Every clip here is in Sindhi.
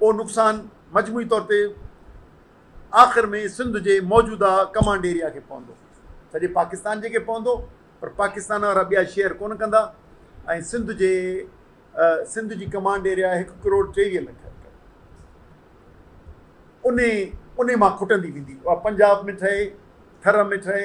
اهو نقصان مجموعي طور تي آخر ۾ سنڌ جي موجوده ڪمانڊ ايريا کي پوندو سڄي پاڪستان جي کي پوندو پر پاڪستان وارا ٻيا شيئر ڪونه ڪندا ۽ سنڌ جي سنڌ جي ڪمانڊ ايريا هڪ ڪروڙ ٽيويهه لک ان ان مان کٽندي ويندي پنجاب ۾ ٺهي ٿر ۾ ٺهي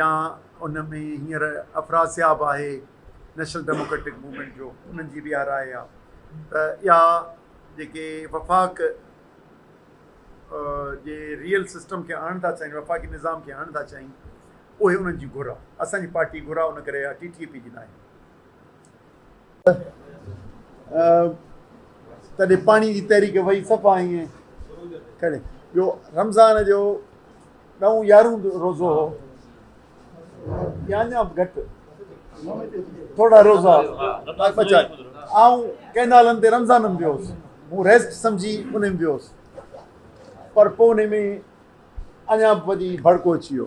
يا ان ۾ هينئر افراسياب آهي نيشنل ڊيموڪريٽڪ موومينٽ جو انهن جي به اها راء آهي ته اها جيڪي وفاق جي ريئل سسٽم کي آڻڻ ٿا چاهين وفاقي نظام کي آڻڻ ٿا چاهين اهي انهن جي گهر آهي اسان جي پارٽي گهر آهي ان ڪري اها ٽي ٽي اي پي جي ناهي. تڏهن پاڻي جي تحريڪ وئي صفا ائين ڪري ٻيو رمضان جو ڏهون يارهون روزو هو يا اڃا به گهٽ ٿورا روزا بچا آئون ڪئنالن تي رمضان ۾ ويو هوس مون ريسٽ سمجهي ان ۾ ويو هوس پر پوء ان ۾ اڃا به وڌي ڀڙڪو اچي ويو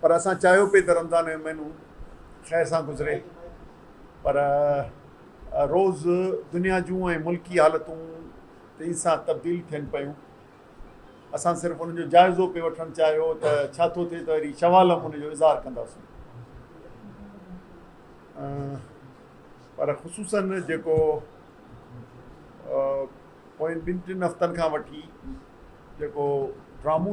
پر اسان چاهيو پئي ته رمضان جو مهينو خير سان گذري پر روز دنيا جون ۽ ملڪي حالتون تيز سان تبديل ٿين پيون اسان صرف ان جو جائزو پئي وٺڻ چاهيو ته ڇا ٿو ٿئي ته وري شوال هم ان جو اظهار ڪنداسون پر خصوصن جيڪو پوين ٻن ٽن هفتن کان وٺي جيڪو ڊرامو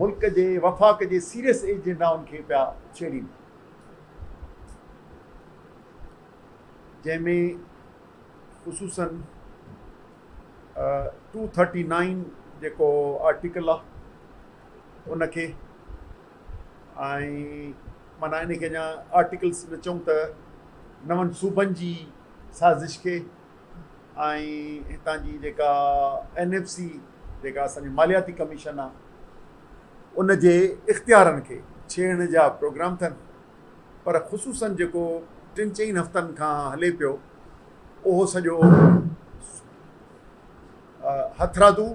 ملڪ جي وفاق جي سيريس ايجنڊائن کي پيا ڇيڙين جنهن ۾ خصوصاً ٽو ٿرٽي نائين جيڪو آرٽيڪل آ ان کي ۽ معنيٰ ان کي اڃا آرٽيڪلس نه چئون ته نون صوبن جي سازش کي ۽ هتان جي جيڪا اين ايف سي جيڪا اسان جي مالياتي ڪميشن آ ان جي اختيارن کي ڇيڙڻ جا پروگرام ٿن پر خصوصن جيڪو ٽن چئن هفتن کان هلي پيو اهو سڄو هٿرادو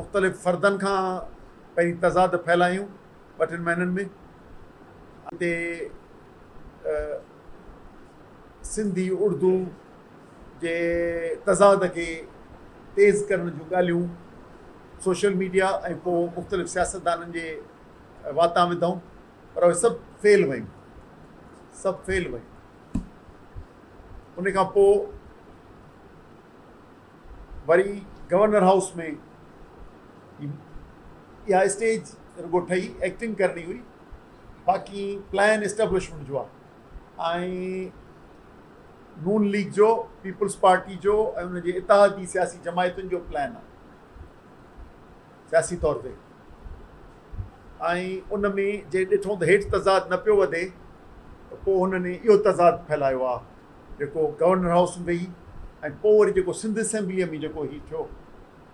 مختلف فردن کان پنهنجي تضاد ڦيلايون ٻ ٽن مهينن ۾ سنڌي اڙدو جي تضاد کي تيز ڪرڻ جون ڳالهيون سوشل ميڊيا ۽ پوء مختلف سياستدانن جي واتان وڌائون پر اهي سڀ فيل ويون سڀ فيل ويون ان کان پوء وري گورنر هائوس ۾ اها اسٽيج رڳو ٺهي ايڪٽنگ ڪرڻي هئي باقي پلان اسٽيبلشمنٽ جو آ ۽ نون ليگ جو، پيپلز پارٽي جو ۽ ان جي اتحادي سياسي جماعتن جو پلان آهي سياسي طور تي ۽ ان ۾ جي ڏٺون ته هيٺ تضاد نه پيو وڌي ته پوء هنن اهو تضاد ڦهلايو آهي جيڪو گورنر هائوس ۾ ويهي ۽ پوء وري جيڪو سنڌ اسيمبليء ۾ جيڪو هي ٿيو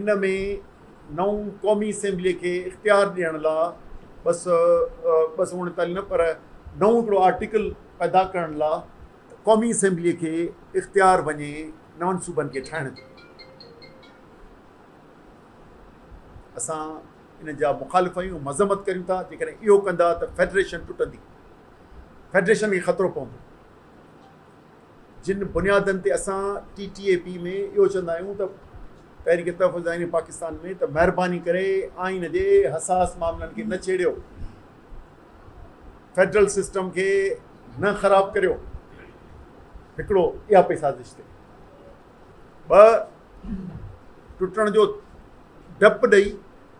ان ۾ نئون قومي اسيمبليء کي اختيار ڏيڻ لا ٻه سؤ ٻه سؤ اڻيتاليهه نه پر نئون هڪڙو آرٽيڪل پيدا ڪرڻ لا ته قومي اسيمبليء کي اختيار وڃي نون صوبن کي ٺاهڻ جو. اسان ان جا مخالف آهيون مذمت ڪريون ٿا جيڪڏهن اهو ڪندا ته فيڊريشن ٽٽندي فيڊريشن کي خطرو پوندو. جن بنيادن تي اسان ٽي ٽي اي پي ۾ اهو چوندا آهيون ته تحريڪ تحفظ آئين پاڪستان ۾ ته مهرباني ڪري آئين جي حساس معاملن کي نه ڇيڙيو فيڊرل سسٽم کي نه خراب ڪريو هڪڙو اها پئي سازش تي ٻه ٽٽڻ جو ڊپ ڏئي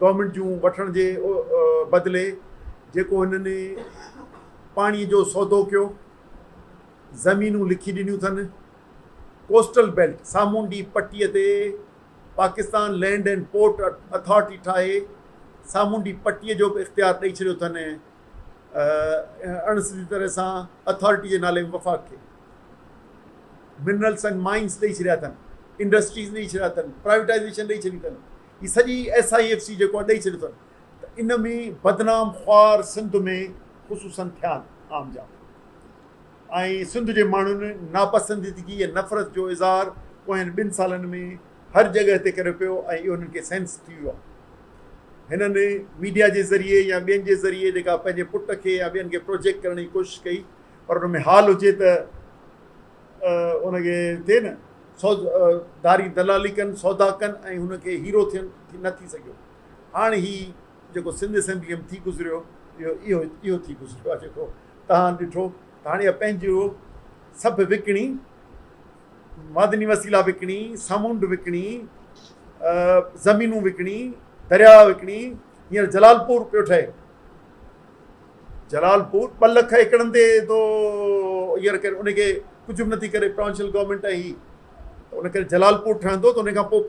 گورنمينٽ جون وٺڻ جي بدلي جيڪو هنن پاڻي جو سودو ڪيو، زمينون لکي ڏنيون ٿن، ڪوسٽل بيلٽ، سامونڊي پٽي، تي Pakistan land and port authority ٺاهي سامونڊي پٽي جو به اختيار ڏئي ڇڏيو ٿن ۽ اڻ سڌي طرح سان اٿارٽي جي نالي ۾ وفاق کي منرلس اينڊ مائنس ڏئي ڇڏيا ٿن، انڊسٽريز ڏئي ڇڏيا ٿن، پرائيوٽائيزيشن ڏئي ڇڏي ٿن. هي سڄي ايس آء ايف سي جيڪو اڏئي ڇڏيو اٿن ته ان ۾ بدنام خوار سنڌ ۾ خصوصن ٿيا آهن عام جا ۽ سنڌ جي ماڻهن ناپسنديدگي ۽ نفرت جو اظهار پوين ٻن سالن ۾ هر جڳهه تي ڪريو پيو ۽ اهو هنن کي سينس ٿي ويو آهي هنن ميڊيا جي ذريعي يا ٻين جي ذريعي جيڪا پنهنجي پٽ کي يا ٻين کي پروجيڪٽ ڪرڻ جي ڪوشش ڪئي پر ان ۾ حال هجي ته ان کي ٿئي نه سود ڌاري دلالي ڪن سودا ڪن ۽ هن کي هيرو ٿين نه ٿي سگهيو هاڻ هي جيڪو سنڌ اسيمبلي ۾ ٿي گذريو اهو اهو اهو ٿي گذريو آهي جيڪو تهان ڏٺو ته هاڻي اهي پنهنجو سڀ وڪڻي معدني وسيلا وڪڻي سامونڊ وڪڻي زمينون وڪڻي درياء وڪڻي هينئر جلالپور پيو ٺهي جلال پور ٻه لک ايڪڙن تي تو ير ڪري ان کي ڪجهه به نٿي ڪري پروونشل گورنمينٽ هي ان ڪري جلال پور ٺهندو ته ان کان پوء